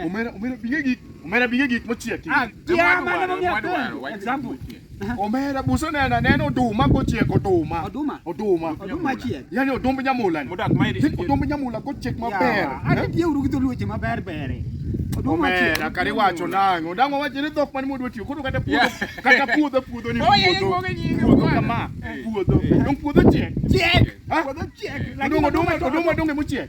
Omera omera binge gik omera binge gik mochiek. Ah, kia mano no mia kwa. Example. Omera buso nena neno oduma kochiek oduma. Oduma. Oduma. Oduma chiek. Yaani odumb nyamula. Modak mairi. Odumb nyamula kochiek maber. Ani tie uru gito luoche maber bere. Omera kare wacho nang'o? Dang'o wacho ni dhok mane modwa tiyo. Koro kata puodho kata puodho puodho ni puodho. Puodho kama. Puodho. Dong puodho chiek. Chiek. Puodho chiek. Dong oduma oduma donge mochiek.